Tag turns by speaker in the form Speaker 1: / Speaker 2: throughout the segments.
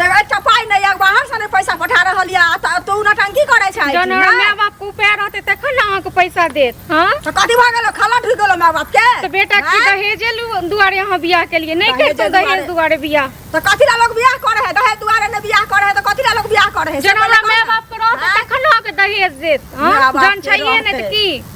Speaker 1: देख एकटा पाइ नहि यऽ बाहरसँ नहि पैसा पठा रहल यऽ आ तऽ तू नटंकी करै छै जहन हमरा माय बाप के
Speaker 2: उपाय रहते तखन ने अहाँके पैसा देत हाँ तऽ कथी भऽ गेलो खाला
Speaker 1: ढुक गेलो माय बाप के तो बेटा की हाँ? दहेजे
Speaker 2: लु- दुआरे अहाँ बियाह के लिए नहीं दहेजे करते दहेज दुआरे। दुआरे बियाह तऽ कथी ला लोग बियाह
Speaker 1: करे है दहेज दुआरे ने बियाह करे है तऽ कथी ला लोग बियाह करे है जहन हमरा माय बाप के रहते
Speaker 2: हाँ? तखन ने अहाँके दहेज देत हाँ? माय बाप जहन के छैहे नहीं रहते। तो की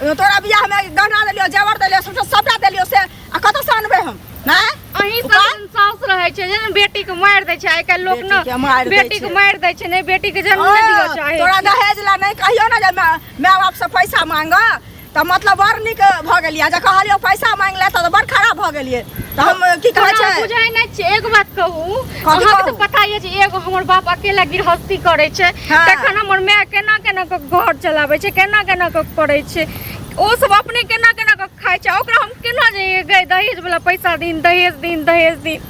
Speaker 1: तोरा बियाह में गहना देलियो जेवर देलियो सबटा सबटा देलियो से आ कत से अनबे हम हैं अहीं सब उपाय? दिन
Speaker 2: सास रहै छै जे ने बेटी के मारि दै छै आइ काल्हि लोक बेटी के मारि ने दै बेटी के छै। मारि दै छै ने बेटी के जन्म नहि दिअ ओ, चाहे तोरा दहेज ला नहीं
Speaker 1: कहियो ना जे माय माय बाप से पैसा मांग त मतलब बड़ निक भ गेलिया जे कहलियो पैसा मांग ले त बड़ खराब भ गेलिए त हम की कहै तोरा छै बुझाइ नहि छै एक
Speaker 2: बात कहू कथी अहाँके कहू? तऽ पता ये जे एगो हमर बाप अकेला गृहस्थी करै छै हाँ। तखन हमर माय केना केना कऽ घर चलाबै छै केना केना कऽ करै छै ओ सब अपने केना केना कऽ खाइ छै ओकरा हम केना जे गए दहेज वाला पैसा दिन दहेज दिन दहेज दिन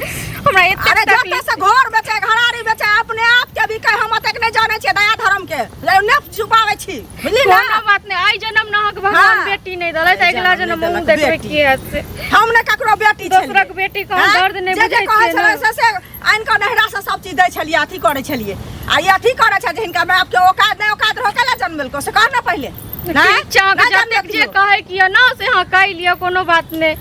Speaker 2: हमरा अरे एते जतऽ तकलीफ से घर बेचे
Speaker 1: घरारी बेचे अपने आप के भी कहे हम ओतेक नहि जाने छियै दया धर्म के ले ने छुपावे छी बुझलियै ना कोनो बात नहि आइ जन्म
Speaker 2: न अहाँके भगवान हाँ। बेटी नहि देलथि तऽ अगिला जन्म जन्म नहि हमहूँ देलक देखबै बेटी। की हैत से। हम ने ककरो बेटी
Speaker 1: छलियै। दोसरक बेटी के हम हाँ? दर्द
Speaker 2: नहि जे जे बुझै कहै छियै छलै ने। से से आनि कऽ
Speaker 1: नहिरा से सब चीज दै छलियै अथी करै छलियै आ ई अथी करै छै जे हिनका माय बापके औकात नहि औकात रहै कैला जन्म देलको से कह ने पहिले ठीक छै अहाँके जतेक
Speaker 2: जे कहै के यऽ ने से अहाँ कहि लिअ कोनो बात नहि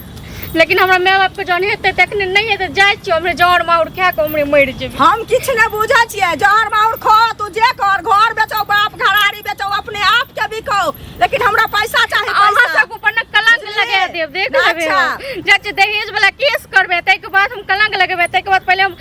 Speaker 2: लेकिन हमरा माय बाप के जहन हेतै तखने नहि हेतै जाइ छियै हमरे जहर माउर खा के हमरे मरि जेबै हम किछु नहि बुझै
Speaker 1: छियै जहर माउर खो तू जे कर घर बेचो बाप घरारी बेचो अपने आप के बिको लेकिन हमरा पैसा चाही अहाँ पैसा सब ऊपर ने कलंक
Speaker 2: बुझलियै? लगा देब देख लेबै अच्छा। हम। जाइ छियै दहेज वाला केस करबै ताहिके बाद हम कलंक लगेबै ताहिके बाद पहिले हम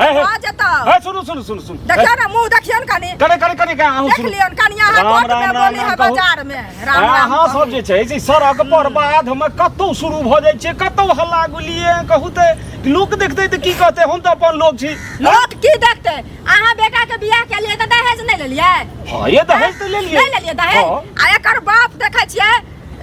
Speaker 3: हे हे कहाँ जेतौ
Speaker 1: हे सुनू सुनू सुनू
Speaker 3: सुनू देखियो ना मुंह
Speaker 1: देखियो ना कनी करे करे करे का अहूँ देख
Speaker 3: सुनू लियन कनिया हाथ
Speaker 1: राम,
Speaker 3: कोर्ट
Speaker 1: राम, में राम, बोली राम है कहू। बाजार में राम राम अहाँ कहू। सब जे छै से
Speaker 3: सड़क पर बाद हमे कतौ शुरू भऽ जाइ छै कतौ हल्ला गुलिये कहू ते लोक देखतै तऽ की कहतै हम तऽ अपन लोक छी लोक की देखते
Speaker 1: अहाँ बेटा के बियाह के लिए तऽ दहेज नहीं लेलियै हँ ये दहेज
Speaker 3: तऽ लेलियै नहीं लेलियै दहेज हाँ। आ
Speaker 1: एकर बाप देखे छियै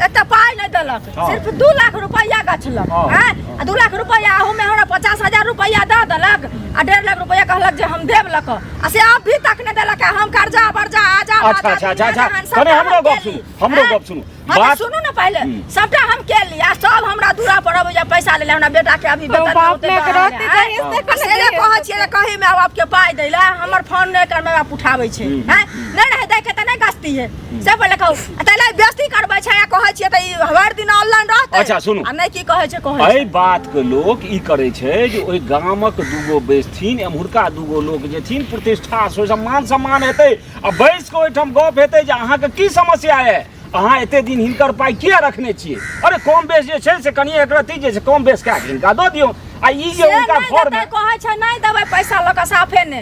Speaker 1: एते पाई नहीं देलक हाँ। सिर्फ दू लाख रुपया गछलक हाँ, हैं हाँ। आ दू लाख रुपया अहू में हमरा पचास हजार रुपया दऽ देलक आ डेढ़ लाख रुपया कहलक जे हम देब लक आ से अब भी तक नहीं देलक हम कर्जा बर्जा आजा अच्छा अच्छा अच्छा अच्छा
Speaker 3: कने हमरो गप सुनू हमरो गप सुनू बात बात सुनू ना पहले
Speaker 1: हम्म। सबटा हम के ली आ सब हमरा दूरा पर अब या पैसा ले ले हमरा बेटा के अभी तो बेटा बाप दौते ने दौड़ल करत
Speaker 2: है, जाइए, हैं? से कने से ले कहै छियै रे,
Speaker 1: कही माय बाप के पाई दैला हमर फोन नहीं कर माय बाप उठाबै छै हम्म, हैं नहीं रहे दै के त नहीं गस्ती है से पहिले कहू आ तैले बेइज्जती करबै छै आ कहै छियै तऽ ई हर दिन ऑनलाइन रहतै अच्छा, सुनू। आ नहि की
Speaker 3: कहै छै कहै छै
Speaker 1: एहि बात के
Speaker 3: लोक ई करे छै जे ओहि गामक दूगो बैसथिन एम्हुरका दूगो लोक जेथिन प्रतिष्ठा से ओहिसँ मान सम्मान हेतै आ बैस कऽ ओहिठाम गप हेतै जे अहाँके की समस्या है अहाँ एते दिन हिनकर पाइ किया रखने छियै अरे कम बेस जे छै से कनि एकरती जे छै कम बेस कए कऽ हिनका दऽ दियौ आ ई जे से हुनका नहि घर देतै कहै छै नहि देबै
Speaker 1: पैसा लऽ कऽ साफे ने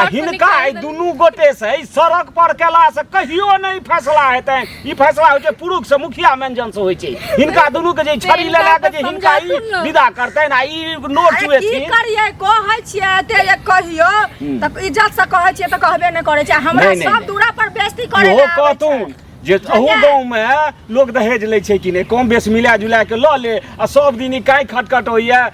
Speaker 3: आ हिनका एहि दुनू गोटे से एहि सड़क पर केला से कहियो नहि फैसला हेतै ई फैसला होइ छै पुरुष से मुखिया मेंजन से होइ छै हिनका दुनू के जे छड़ी ले लए के जे हिनका ई विदा करतै आ ई नोट की चुएथिन करिए कहै
Speaker 1: छियै एते जे कहियो हम्म। तऽ इज्जत से कहै छियै तऽ कहबे नहि करै छै हमरा नहि, नहि, सब नहि। दूरा पर बेइज्जती करै इहो लए आबै छै। कहतून
Speaker 3: जे अहू बुझलियै? गाँवमे लोक दहेज लै छै कि नहि कम बेस मिला जुला के लऽ ले आ सब दिन ई काहे खटखट होइए